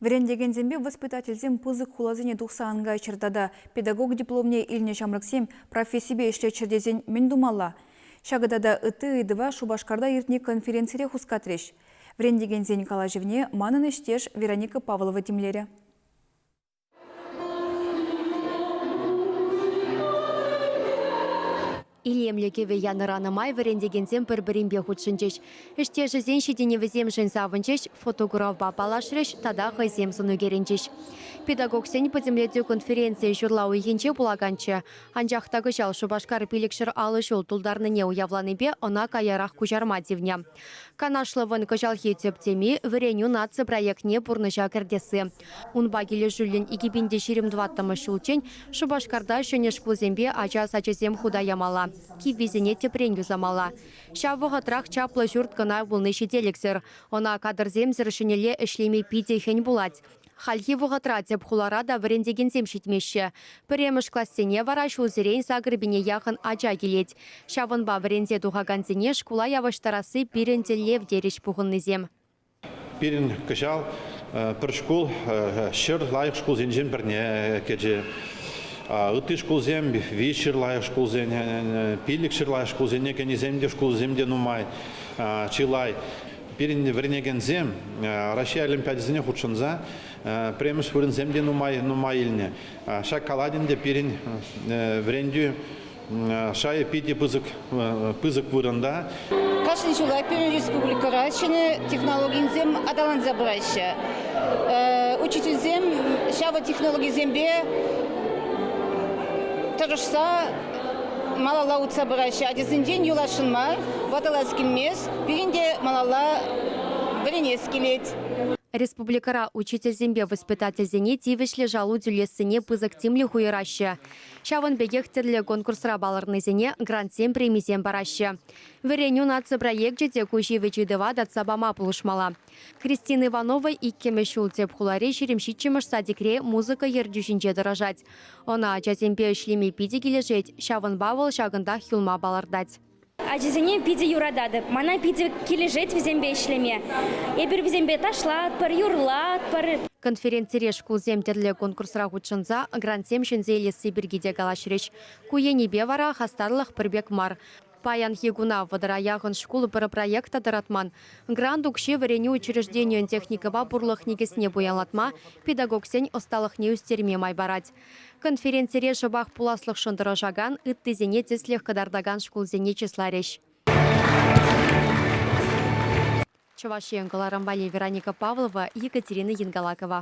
Вӗрентекенсемпе воспитательсем пысӑк хуласене тухса ан кайччӑр тата педагог дипломне илнӗ ҫамрӑксем профессипе ӗҫлеччӗр тесен мӗн тумалла? Ҫакӑ тата ытти ыйтӑва Шупашкарта иртнӗ конференцире хускатрӗҫ. Вӗрентекенсен калаҫӑвне манӑн ӗҫтеш Вероника Павлова тимлерӗ. Илемлӗ кӗвӗ янӑранӑ май вӗрентекенсем пӗр-пӗринпе хутшӑнчӗҫ. Ӗҫтешӗсен ҫитӗнӗвӗсемшӗн савӑнчӗҫ, фотографпа паллашрӗҫ тата хӑйсем сӑну кӗрӗнчӗҫ. Педагогсен пӗтӗмлетӳ конференцийӗн ҫурла уйӑхӗнче пулаканччӗ, анчах та кӑҫал Шупашкар пилӗкҫӗр алӑ ҫул тултарнине уявланипе ӑна каярах куҫарма тивнӗ. Канашлӑвӑн кӑҫалхи тӗп теми Вӗренӳ наци проектне пурнӑҫа кӗртесси. Унпа килӗшӳллӗн икӗ пин те ҫирӗм тӑваттӑмӗш ҫулччен Шупашкарта ҫӗнӗ шкулсемпе ача сачӗсем хута ямалла, киввисене тӗпрен юсамалла. Ҫав вӑхӑтрах чаплӑ ҫурт кӑна пулни ҫителӗксӗр. Ӑна кадрсемсӗр ҫӗнӗлле ӗҫлеме питӗ хӗн пулать. Хальхи вӑхӑтра тӗп хулара та вӗрентекенсем ҫитмеҫҫӗ. Пӗрремӗш классене вара ҫулсерен Загребине яхӑн ача килет. Ҫавӑнпа вӗренсе тухакансене шкула явӑҫтарасси пирӗн тӗллев, терӗҫ пухӑннисем. Пирӗн кӑҫал пӗр шкул ҫӗр лайӑх шкулсенчен пӗрне кӗчӗ. Ытти шкулсем виҫ ҫӗр лайӑх шкулсене, пилӗк ҫӗр лайӑх шкулсене кӗнисем те, шкулсем те нумай, чылай. Пирӗн вӗренекенсем Раҫҫей олимпиадисене хутшӑнса пӗрремӗш вырӑнсем те нумай, нумай илнӗ. Ҫак калать ӗнтӗ пирӗн вӗрентӳ шайӗ питӗ пысӑк вырӑнта. Кашни ҫулах пирӗн республикӑра ҫӗнӗ технологисем аталанса пыраҫҫӗ. Учительсем ҫавӑ технологисемпе тӑрӑшса малалла утса пыраҫҫӗ. Ачасенчен юласшӑн мар, ватӑлас килмест. Пирӗн те малалла вӗренес килет. Республикӑра учительсемпе воспитательсене тивӗҫлӗ шалу тӳлессине пысӑк тимлӗх уйӑраҫҫӗ. Ҫавӑн пекех тӗрлӗ конкурсра палӑрнисене грантсем премисем параҫҫӗ. Вӗренӳ наци проекчӗ те ку ҫивӗч ыйтӑва татса пама пулӑшмалла. Кристина Иванова иккӗмӗш ҫул тӗп хулари ҫирӗм ҫиччӗмӗш садикре музыка ертӳҫинче тӑрӑшать. Ӑна ачасемпе ӗҫлеме питӗ килӗшет, ҫавӑнпа вӑл ҫакӑнтах юлма палӑртать. Ачисене питӗ юрататӑп. Мана питӗ килӗшет вӗсемпе ӗҫлеме. Эпир вӗсемпе ташлатпӑр, юрлатпӑр. Конференцире шкулсем тӗрлӗ конкурсра хутшӑнса грантсем ҫӗнсе илесси пирки те калаҫрӗҫ. Ку енӗпе вара хастарлӑх пӗр пек мар. Паянхи куна вӑтӑра яхӑн шкул пӗр проекта тӑратман. Грант укҫи вӗренӳ учрежденийӗн техникӑпа пурлӑх никӗсне пуянлатма, педагогсен ӑсталӑхне ӳстерме май парать. Конференцире шӑпах пуласлӑхшӑн тӑрӑшакан, ыттисене тӗслӗх кӑтартакан шкулсене чысларӗҫ. Чӑваш Ен кӑларӑм валли Вероника Павлова, Екатерина Янгалакова.